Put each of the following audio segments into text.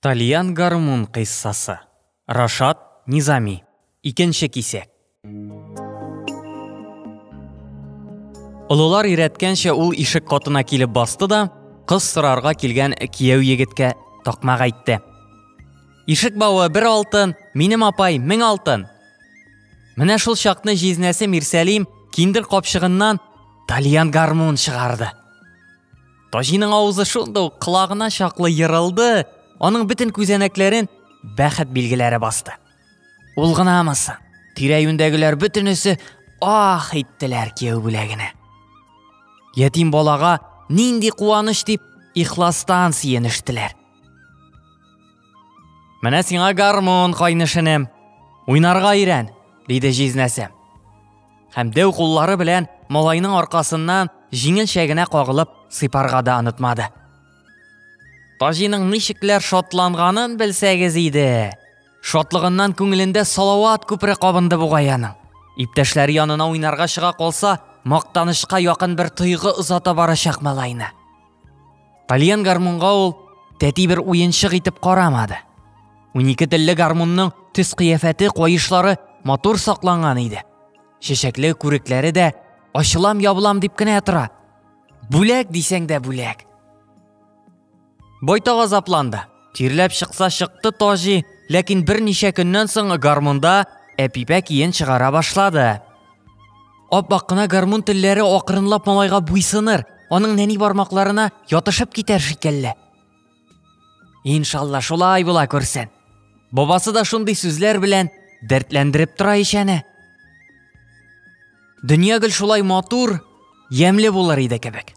Тальян гармун кыйссасы. Рашат Низами. Икенче кисәк. Олылар өйрәткәнчә ул ишек катына килеп басты да, кыз сорарга килгән кияү егеткә такмак әйтте. Ишек бавы бер алтын, минем апай мең алтын. Менә шул чакны җизнәсе Мирсәлим киндер капчыгыннан тальян гармун чыгарды. Таҗиның авызы шунда ук колагына чаклы ерылды, аның бөтен күзәнәкләрен бәхет билгеләре басты. Ул гынамы соң? Тирә-юньдәгеләр бөтенесе ах иттеләр кияү бүләгенә. Ятим балага нинди куаныч дип ихластан сөенештеләр. Менә сиңа гармун, кайнышынем. Уйнарга өйрән, диде җизнәсе. Һәм дәү куллары белән малайның аркасыннан җиңелчә генә кагылып сыйпарга да онытмады. Таҗиның ничекләр шатланганын белсәгез иде. Шатлыгыннан күңелендә салават күпере кабынды бугай аның. Иптәшләре янына уйнарга чыга калса, мактанышка якын бер тойгы озата барачак малайны. Тальян гармунга ул тәти бер уенчык итеп карамады. Унике телле гармунның төс кыяфәте, каешлары матур сакланган иде. Чәчәкле күрекләре дә ачылам ябылам дип кенә тора. Бүләк дисәң дә бүләк. Байтак азапланды. Тирләп чыкса чыкты Таҗи, ләкин берничә көннән соң гармунда әпипә киен чыгара башлады. Аппак кына гармун телләре акрынлап малайга буйсыныр, аның нәни бармакларына ятышып китәр шикелле. Иншалла шулай була күрсен. Бабасы да шундый сүзләр белән дәртләндереп тора ишәне. Дөнья гел шулай матур, ямьле булыр иде кебек.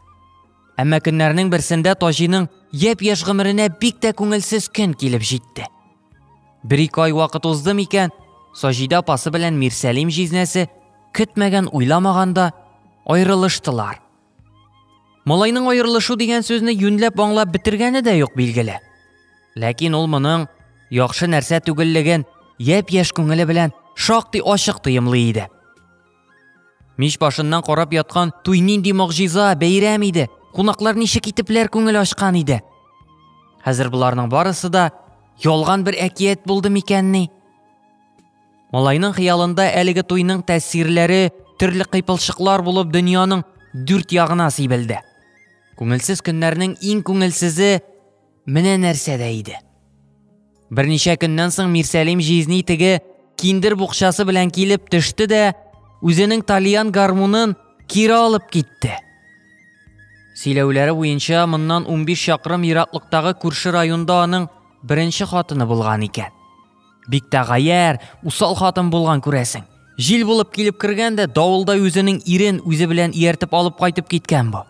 Әмма көннәрнең берсендә Таҗиның япь-яшь гомеренә бик тә күңелсез көн килеп җитте. Бер-ике ай вакыт узды микән, Саҗидә апасы белән Мирсәлим җизнәсе көтмәгән уйламаганда аерылыштылар. Малайның аерылышу дигән сүзне юньләп аңлап бетергәне дә юк билгеле. Ләкин ул моның яхшы нәрсә түгеллеген япь-яшь күңеле белән шактый ачык тоемлый иде. Мич башыннан карап яткан туй нинди могҗиза, бәйрәм иде. Кунаклар ничек итепләр күңел ачкан иде. Хәзер боларның барысы да ялган бер әкият булды микәнни? Малайның хыялында әлеге туйның тәэсирләре төрле кыйпылчыклар булып дөньяның дүрт ягына сибелде. Күңелсез көннәрнең иң күңелсезе Менә нәрсә дә иде. Берничә көннән соң Мирсәлим җизни теге киндер букчасы белән килеп төште дә, үзенең тальян гармунын кире алып китте. Сөйләүләре буенча моннан 15 чакрым ераклыктагы күрше районда аның беренче хатыны булган икән. Бик тә гаяр, усал хатын булган күрәсең. Җил булып килеп кергән дә давылда үзенең ирен үзе белән ияртеп алып кайтып киткән бу.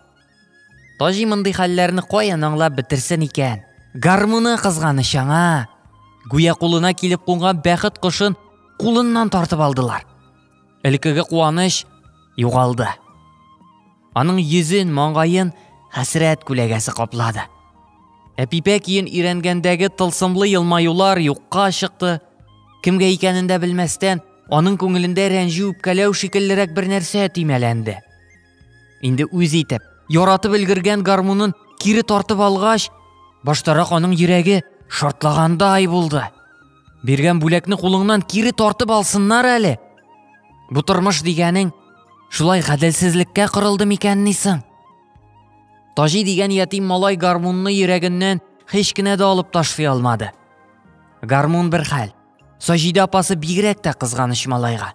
Таҗи мондый хәлләрне каян аңлап бетерсен икән? Гармуны кызганыч аңа. Гүя кулына килеп кунган бәхет кошын кулыннан тартып алдылар. Элекеге куаныч югалды. Аның йөзен, маңгаен хәсрәт күләгәсе каплады. Әпипә киен өйрәнгәндәге тылсымлы елмаюлар юкка чыкты. Кемгә икәнен дә белмәстән, аның күңелендә рәнҗү үпкәләү шикеллерәк бер нәрсә төймәләнде. Инде үз итеп, яратып өлгергән гармунын кире тартып алгач, баштарак аның йөрәге шартлагандай булды. Биргән бүләкне кулыңнан кире тартып алсыннар әле. Бу тормыш дигәнең шулай гаделсезлеккә корылды микән нисең? Таҗи дигән ятим малай гармунны йөрәгеннән һич кенә дә алып ташлый алмады. Гармун бер хәл. Саҗидә апасы бигрәк тә кызганыч малайга.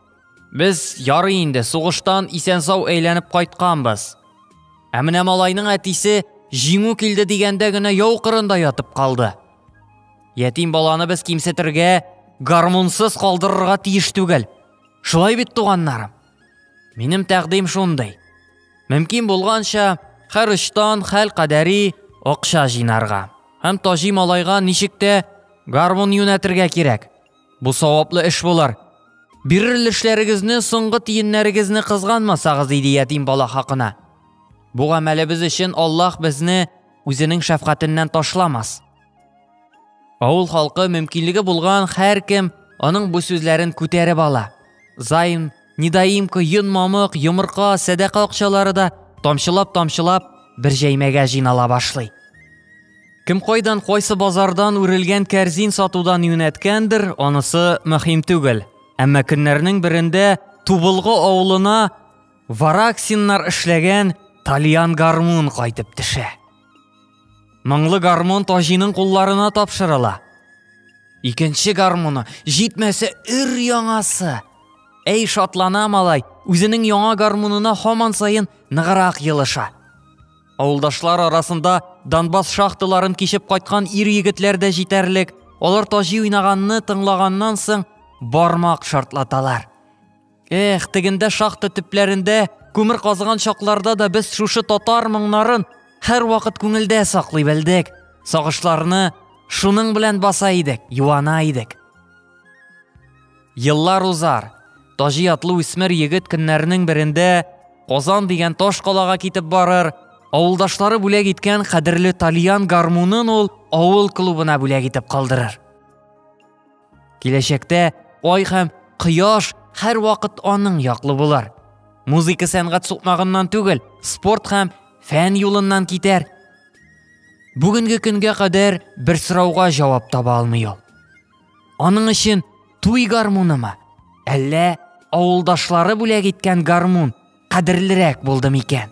Без ярый инде сугыштан исән-сау әйләнеп кайтканбыз. Ә менә малайның әтисе җиңү килде дигәндә генә яу кырында ятып калды. Ятим баланы без кимсетергә, гармунсыз калдырырга тиеш түгел. Шулай бит, туганнарым. Минем тәкъдим шундый. Мөмкин булганча, һәр очтан хәл кадәри акча җыйнарга. Һәм Таҗи малайга ничек тә гармун юнәтергә кирәк. Бу саваплы эш булар. Бирер өлешләрегезне соңгы тиеннәрегезне кызганмасагыз иде ятим бала хакына. Бу гамәлебез өчен Аллаһ безне үзенең шәфкатеннән ташламас. Авыл халкы мөмкинлеге булган һәркем аның бу сүзләрен күтәреп ала. Займ Недоимка, йон мамык, йомырка, сәдәкә акчалары да тамчылап-тамчылап бер җәймәгә җинала башлый. Кем кайдан кайсы базардан үрелгән кәрзин сатудан юнәткәндер, анысы мөһим түгел. Әмма көннәрнең берендә Тубылгы авылына вараксиннар эшләгән Тальян гармун кайтып төшә. Моңлы гармон Таҗиның кулларына тапшырыла. Икенче гармоны, җитмәсә өр яңасы. Әй шатлана малай, үзенең яңа гармонына һаман саен ныграк елыша. Авылдашлар арасында Донбасс шахталарын кичеп кайткан ир егетләр дә җитәрлек. Алар Таҗи уйнаганны тыңлаганнан соң бармак шартлаталар. Эх, тегендә шахта төпләрендә күмер казыган чакларда да без шушы татар моңнарын һәрвакыт күңелдә саклый белдек. Сагышларны шуның белән баса идек, юана идек. Еллар узар. Таҗи атлы үсмер егет көннәрнең берендә Казан дигән таш калага китеп барыр, авылдашлары бүләк иткән кадерле тальян гармунын ул авыл клубына бүләк итеп калдырыр. Киләчәктә ай һәм кояш һәрвакыт аның яклы булар. Музыка сәнгать сукмагыннан түгел, спорт һәм фән юлыннан китәр. Бүгенге көнгә кадәр бер сорауга җавап таба алмый ул. Аның өчен туй гармунымы, әллә авылдашлары бүләк иткән гармун кадерлерәк булды микән?